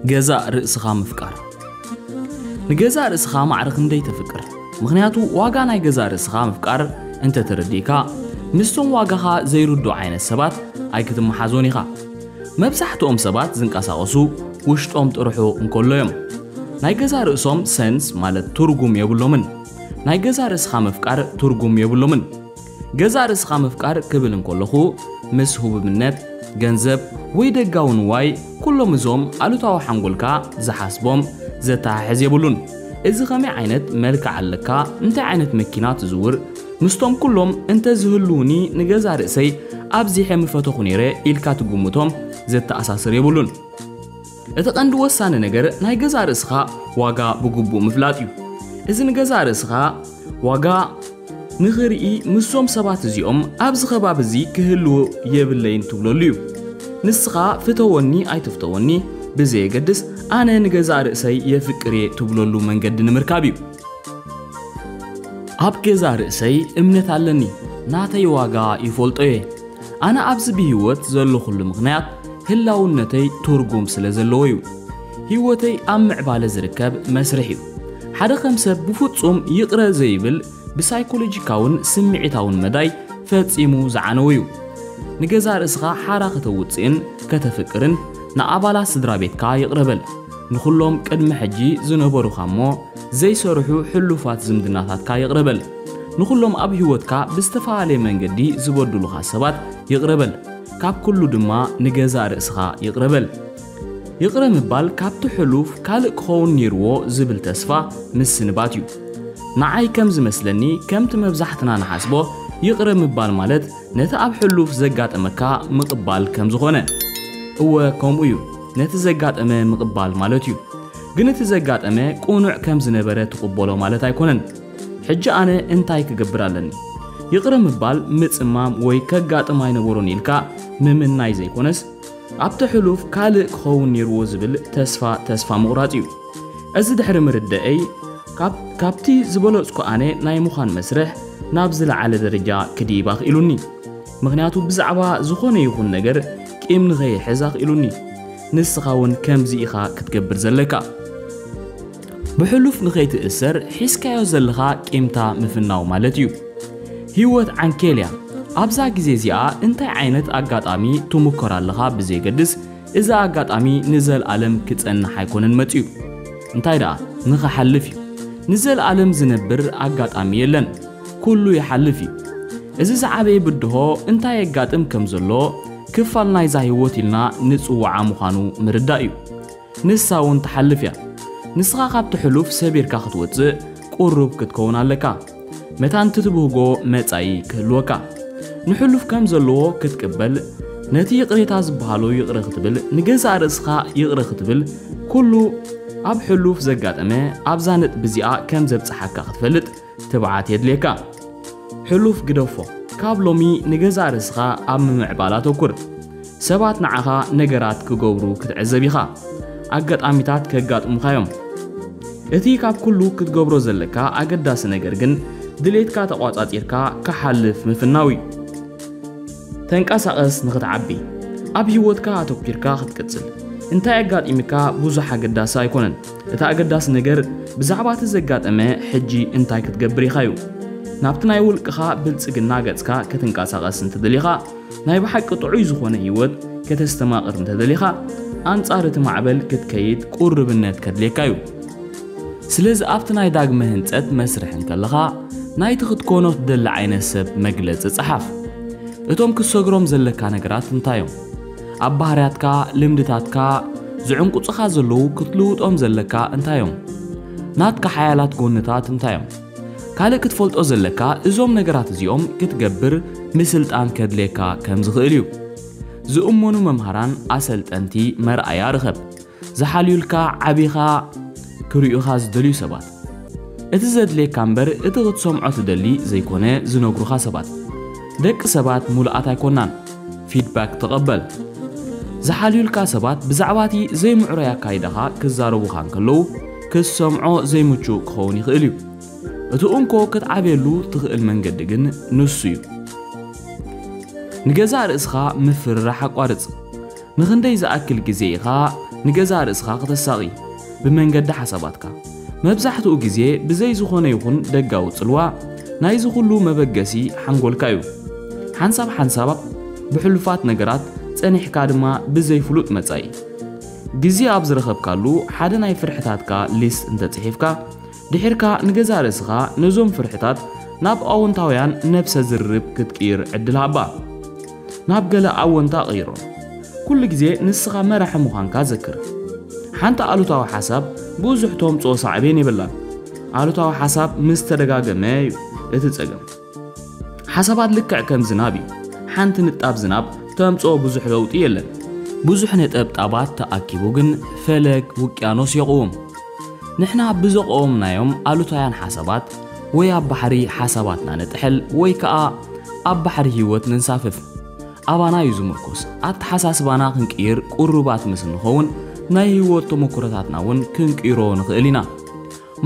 ገዛእ ርእስኻ ምፍቃር ንገዛእ ርእስኻ ማዕረ ክንደይ ተፍቅር? ምኽንያቱ ዋጋ ናይ ገዛእ ርእስኻ ምፍቃር እንተ ተረዲእካ ምስቶም ዋጋኻ ዘይርድኡ ዓይነት ሰባት ኣይክትመሓዞን ኢኻ። መብዛሕትኦም ሰባት ዝንቀሳቐሱ ውሽጦም ጥርሑ እንከሎ እዮም። ናይ ገዛእ ርእሶም ሰንስ ማለት ትርጉም የብሎምን። ናይ ገዛእ ርእስኻ ምፍቃር ትርጉም የብሎምን። ገዛእ ርእስኻ ምፍቃር ክብል እንከለኹ ምስ ህቡብነት፣ ገንዘብ ወይ ደጋዊ ንዋይ ኩሎም እዞም ኣሉታዊ ሓንጎልካ ዝሓስቦም ዘተሓሕዝ የብሉን። እዚ ከመይ ዓይነት መልክዕ ኣለካ፣ እንታይ ዓይነት መኪና ትዝውር፣ ምስቶም ኩሎም እንተ ዝህልዉኒ ንገዛእ ርእሰይ ኣብዚሐ ምፈተኹ ነይረ ኢልካ ትግምቶም ዘተኣሳስር የብሉን። እቲ ቀንዲ ወሳኒ ነገር ናይ ገዛእ ርእስኻ ዋጋ ብግቡእ ምፍላጥ እዩ። እዚ ንገዛእ ርእስኻ ዋጋ ንኽርኢ ምስዞም ሰባት እዚኦም ኣብዚ ከባቢ እዚ ክህልው የብለይን ትብለሉ እዩ። ንስኻ ፍተወኒ ኣይትፍተወኒ ብዘየገድስ ኣነ ንገዛእ ርእሰይ የፍቅር እየ ትብለሉ መንገዲ ንምርካብ እዩ። ኣብ ገዛእ ርእሰይ እምነት ኣለኒ፣ ናተይ ዋጋ ይፈልጦ እየ፣ ኣነ ኣብዚ ብህይወት ዘለኹሉ ምኽንያት ህላውነተይ ትርጉም ስለ ዘለዎ እዩ። ህይወተይ ኣብ ምዕባለ ዝርከብ መስርሕ እዩ። ሓደ ከም ሰብ ብፍጹም ይቕረ ዘይብል ብሳይኮሎጂካውን ስምዒታውን መዳይ ፈጺሙ ዝዓነወ እዩ። ንገዛእ ርእስኻ ሓራ ከተውጽእን ከተፍቅርን ንኣባላት ስድራ ቤትካ ይቕረ በል። ንኹሎም ቅድሚ ሕጂ ዝነበሩኻ እሞ ዘይሰርሑ ሕሉፋት ዝምድናታትካ ይቕረ በል። ንኹሎም ኣብ ህይወትካ ብዝተፈላለየ መንገዲ ዝበድሉኻ ሰባት ይቕረ በል። ካብ ኩሉ ድማ ንገዛእ ርእስኻ ይቕረ በል። ይቕረ ምባል ካብቲ ሕሉፍ ካልእ ክኸውን ኔርዎ ዝብል ተስፋ ምስንባት እዩ። ንዓይ ከም ዝመስለኒ ከምቲ መብዛሕትና ንሓስቦ ይቕረ ምባል ማለት ነቲ ኣብ ሕሉፍ ዘጋጠመካ ምቕባል ከም ዝኾነ። እወ ከምኡ እዩ። ነቲ ዘጋጠመ ምቕባል ማለት እዩ። ግን እቲ ዘጋጠመ ቅኑዕ ከም ዝነበረ ትቕበሎ ማለት ኣይኮነን። ሕጂ ኣነ እንታይ ክገብር ኣለኒ? ይቕረ ምባል፣ ምጽማም ወይ ከጋጥም ኣይነበሮን ኢልካ ምምናይ ዘይኮነስ ኣብቲ ሕሉፍ ካልእ ክኸውን ነይርዎ ዝብል ተስፋ ተስፋ ምቑራጽ እዩ። እዚ ድሕሪ ምርደእይ ካብቲ ዝበለጽኩ ኣነ ናይ ምዃን መስርሕ ናብ ዝለዓለ ደረጃ ክድይብ ኣኽኢሉኒ። ምኽንያቱ ብዛዕባ ዝኾነ ይኹን ነገር ቂም ንኸይሕዝ ኣኽኢሉኒ። ንስኻ እውን ከምዚ ኢኻ ክትገብር ዘለካ። ብሕሉፍ ንኸይትእሰር ሒዝካዮ ዘለኻ ቂምታ ምፍናው ማለት እዩ። ህይወት ዓንኬል እያ። ኣብዛ ግዜ እዚኣ እንታይ ዓይነት ኣጋጣሚ ትሙከር ኣለኻ ብዘየገድስ እዚ ኣጋጣሚ ንዘልኣለም ክጸንሕ ኣይኮነን መጺኡ። እንታይ ደኣ ንኽሓልፍ እዩ። ንዘልኣለም ዝነብር ኣጋጣሚ የለን። ኩሉ ይሓልፍ እዩ እዚ ዝዓበየ ብድሆ እንታይ የጋጥም ከም ዘሎ ክፋል ናይዛ ህይወት ኢልና ንጽውዓ ምዃኑ ምርዳእ እዩ ንሳ እውን ትሓልፍ እያ ንስኻ ካብቲ ሕሉፍ ሰቢርካ ክትወጽእ ቁሩብ ክትከውን ኣለካ መታን ትትብህጎ መጻኢ ክህልወካ ንሕሉፍ ከም ዘለዎ ክትቅበል ነቲ ይቕሬታ ዝበሃሎ ይቕረ ክትብል ንገዛእ ርእስኻ ይቕረ ክትብል ኩሉ ኣብ ሕሉፍ ዘጋጠመ ኣብዛ ነጥቢ እዚኣ ከም ዘብጽሓካ ክትፈልጥ ትብዓት የድልየካ ሕሉፍ ግደፎ ካብ ሎሚ ንገዛእ ርእስኻ ኣብ ምምዕባል ኣተኩር ሰባት ንዓኻ ነገራት ክገብሩ ክትዕዘብ ኢኻ ኣጋጣሚታት ከጋጥሙኻ እዮም እቲ ካብ ኩሉ ክትገብሮ ዘለካ ኣገዳሲ ነገር ግን ድሌትካ ተቋጻጺርካ ክሓልፍ ምፍናው እዩ ተንቀሳቐስ ንኽትዓቢ ኣብ ህይወትካ ኣተኪርካ ክትቅጽል እንታይ ኣጋጢምካ ብዙሕ ኣገዳሲ ኣይኮነን እቲ ኣገዳሲ ነገር ብዛዕባ እቲ ዘጋጠመ ሕጂ እንታይ ክትገብር ኢኻ እዩ። ናብቲ ናይ ውልቅኻ ብልጽግና ገጽካ ክትንቀሳቐስ እንተደሊኻ፣ ናይ ብሓቂ ጥዑይ ዝኾነ ህይወት ከተስተማቕር እንተደሊኻ፣ ኣንጻር እቲ ማዕበል ክትከይድ ቁርብነት ከድልየካ እዩ። ስለዚ ኣብቲ ናይ ዳግመ ህንጸት መስርሕ እንከለኻ፣ ናይቲ ክትኮኖ ትደሊ ዓይነት ሰብ መግለጺ ጸሓፍ። እቶም ክትሰግሮም ዘለካ ነገራት እንታይ እዮም? ኣብ ባህርያትካ፣ ልምድታትካ፣ ዝዕንቁጽኻ ዘለዉ ክትልውጦም ዘለካ እንታይ እዮም? ናትካ ሓያላት ጎንታት እንታይ እዮም? ካልእ ክትፈልጦ ዘለካ እዞም ነገራት እዚኦም ክትገብር ምስልጣን ከድልየካ ከም ዝኽእል እዩ። ዝእመኑ መምሃራን፣ ኣሰልጠንቲ፣ መርኣያ ርኸብ። ዝሓልዩልካ ዓቢኻ ክሪኡኻ ዝደልዩ ሰባት። እቲ ዘድልየካ እምበር እቲ ክትሰምዖ ትደሊ ዘይኮነ ዝነግሩኻ ሰባት። ደቂ ሰባት ሙሉኣት ኣይኮናን ፊድባክ ተቐበል። ዝሓልዩልካ ሰባት ብዛዕባ እቲ ዘይምዕሩይ ኣካይዳኻ ክዛረቡኻ እንከለዉ ክትሰምዖ ዘይምቹእ ክኸውን ይኽእል እዩ። እቲ እንኮ ክትዓብየሉ ትኽእል መንገዲ ግን ንሱ እዩ። ንገዛእ ርእስኻ ምፍርራሕ ኣቋርጽ። ንኽንደይ ዝኣክል ግዜ ኢኻ ንገዛእ ርእስኻ ክተሳቒ? ብመንገዲ ሓሳባትካ። መብዛሕትኡ ግዜ ብዘይ ዝኾነ ይኹን ደጋዊ ጽልዋ፣ ናይዚ ኹሉ መበገሲ ሓንጎልካ እዩ። ሓንሳብ ሓንሳብ ብሕሉፋት ነገራት፣ ጸኒሕካ ድማ ብዘይ ፍሉጥ መጻኢ። ግዜ ኣብ ዝረኸብካሉ ሓደ ናይ ፍርሕታትካ ሊስት እንተጽሒፍካ፣ ድሒርካ ንገዛእ ርእስኻ ነዞም ፍርሕታት ናብ ኣወንታውያን ነብሰ ዝርርብ ክትቅይር ዕድል ሃባ። ናብ ገለ ኣወንታ ቀይሮም። ኩሉ ግዜ ንስኻ መራሒ ምዃንካ ዘክር። ሓንቲ ኣሉታዊ ሓሳብ ብዙሕ ተምጽኦ ሳዕቤን የብላን። ኣሉታዊ ሓሳብ ምስ ተደጋገመ እዩ እቲ ጸገም። ሓሳባት ልክዕ ከም ዝናብ እዩ። ሓንቲ ንጣብ ዝናብ ተምጽኦ ብዙሕ ለውጢ የለን። ብዙሕ ነጠብጣባት ተኣኪቡ ግን ፈለግ ውቅያኖስ የቕውም። ንሕና ብዘቐወምናዮም ኣሉታውያን ሓሳባት ወይ ኣብ ባሕሪ ሓሳባትና ንጥሕል ወይ ከኣ ኣብ ባሕሪ ህይወት ነንሳፍፍ። ኣባና እዩ ዝምርኮስ። ኣተሓሳስባና ክንቅይር ቅሩባት ምስ እንኸውን ናይ ህይወት ተመኩሮታትና እውን ክንቅይሮ ንኽእል ኢና።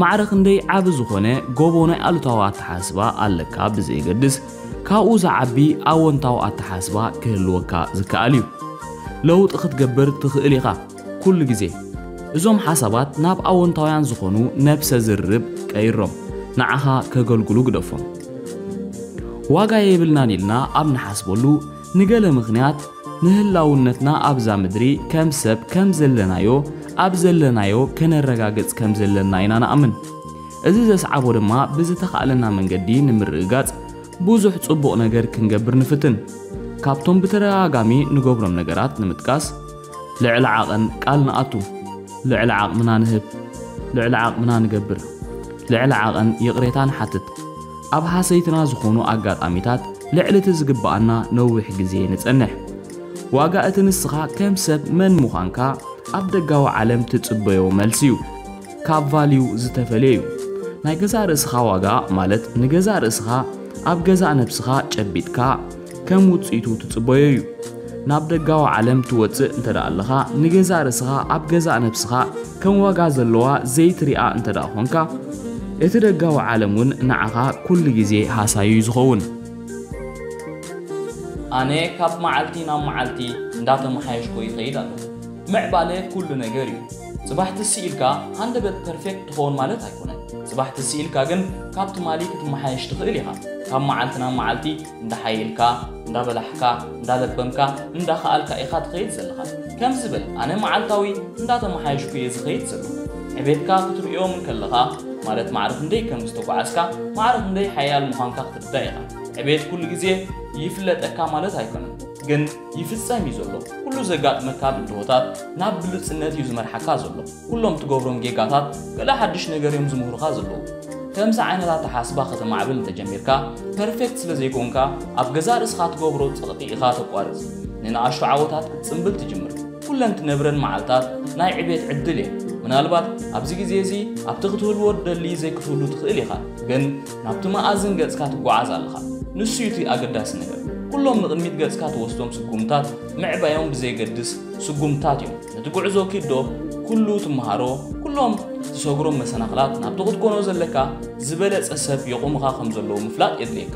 ማዕረ ክንደይ ዓቢ ዝኾነ ጎቦ ናይ ኣሉታዊ ኣተሓስባ ኣለካ ብዘየገድስ ካብኡ ዝዓቢ ኣወንታዊ ኣተሓስባ ክህልወካ ዝከኣል እዩ። ለውጢ ክትገብር ትኽእል ኢኻ ኩሉ ግዜ። እዞም ሓሳባት ናብ ኣወንታውያን ዝኾኑ ነብሰ ዝርርብ ቀይሮም። ንዓኻ ከገልግሉ ግደፎም። ዋጋ የብልናን ኢልና ኣብ ንሓስበሉ ንገለ ምኽንያት ንህላውነትና ኣብዛ ምድሪ ከም ሰብ ከም ዘለናዮ ኣብ ዘለናዮ ከነረጋግጽ ከም ዘለና ኢና ንኣምን። እዚ ዘስዓቦ ድማ ብዝተኻእለና መንገዲ ንምርግጋጽ ብዙሕ ጽቡቕ ነገር ክንገብር ንፍትን። ካብቶም ብተደጋጋሚ ንገብሮም ነገራት ንምጥቃስ፣ ልዕሊ ዓቐን ቃል ንኣቱ፣ ልዕሊ ዓቕምና ንህብ፣ ልዕሊ ዓቕምና ንገብር፣ ልዕሊ ዓቐን ይቕሬታ ንሓትት፣ ኣብ ሃሰይትና ዝኾኑ ኣጋጣሚታት ልዕሊ እቲ ዝግብኣና ነዊሕ ግዜ ንጸንሕ። ዋጋ እቲ ንስኻ ከም ሰብ መን ምዃንካ ኣብ ደጋዊ ዓለም ትጽበዮ መልሲ እዩ። ካብ ቫልዩ ዝተፈልየ እዩ። ናይ ገዛእ ርእስኻ ዋጋ ማለት ንገዛእ ርእስኻ ኣብ ገዛእ ነብስኻ ጨቢጥካ ከም ውጽኢቱ ትጽበዮ እዩ። ናብ ደጋዊ ዓለም ትወጽእ እንተደኣ ኣለኻ ንገዛእ ርእስኻ ኣብ ገዛእ ነብስኻ ከም ዋጋ ዘለዋ ዘይትሪኣ እንተ ደኣ ኾንካ፣ እቲ ደጋዊ ዓለም እውን ንዓኻ ኩሉ ግዜ ሃሳዩ እዩ ዝኸውን። ኣነ ካብ መዓልቲ ናብ መዓልቲ እንዳተመሓየሽኩ ይኸይድ ኣለኹ። ምዕባለ ኩሉ ነገር እዩ። ጽባሕ ትስ ኢልካ ሃንደበት ፐርፌክት ትኸውን ማለት ኣይኮነን። ጽባሕ ትስ ኢልካ ግን ካብ ትማሊ ክትመሓየሽ ትኽእል ኢኻ። ካብ መዓልቲ ናብ መዓልቲ እንዳሓየልካ፣ እንዳበላሕካ፣ እንዳለበምካ፣ እንዳኸኣልካ ኢኻ ትኸይድ ዘለኻ። ከምዚ በል፣ ኣነ መዓልታዊ እንዳተመሓየሽኩ እየ ዝኸይድ ዘለኹ። ዕቤትካ ክትርእዮ እንከለኻ፣ ማለት ማዕረ ክንደይ ከም ዝተጓዓዝካ፣ ማዕረ ክንደይ ሓያል ምዃንካ ክትርዳእ ኢኻ። ዕቤት ኩሉ ግዜ ይፍለጠካ ማለት ኣይኮነን፣ ግን ይፍጸም እዩ ዘሎ። ኩሉ ዘጋጥመካ ብድሆታት ናብ ብሉጽነት እዩ ዝመርሓካ ዘሎ። ኩሎም ትገብሮም ጌጋታት ገለ ሓድሽ ነገር እዮም ዝምህሩኻ ዘለዉ። ከምዚ ዓይነት ኣተሓሳስባ ከተማዕብል እንተጀሚርካ፣ ፐርፌክት ስለ ዘይኮንካ ኣብ ገዛእ ርእስኻ ትገብሮ ጸቕጢ ኢኻ ተቋርጽ። ንንኣሽቱ ዓወታት ክትጽምብል ትጅምር። ኩለን ትነብረን መዓልታት ናይ ዕቤት ዕድል እየን። ምናልባት ኣብዚ ግዜ እዚ ኣብቲ ክትህልዎ ትደሊ ዘይክትህሉ ትኽእል ኢኻ፣ ግን ናብቲ መኣዝን ገጽካ ትጓዓዝ ኣለኻ። ንሱ እዩ እቲ ኣገዳሲ ነገር። ኩሎም ንቕድሚት ገጽካ ትወስዶም ስጉምታት፣ ምዕባዮም ብዘየገድስ፣ ስጉምትታት እዮም። ነቲ ጉዕዞ ኪድ ዶ ኩሉ ትመሃሮ ኩሎም ትሰግሮም መሰናኽላት ናብቲ ክትኮኖ ዘለካ ዝበለጸ ሰብ የቑምኻ ከም ዘለዉ ምፍላጥ የድልየካ።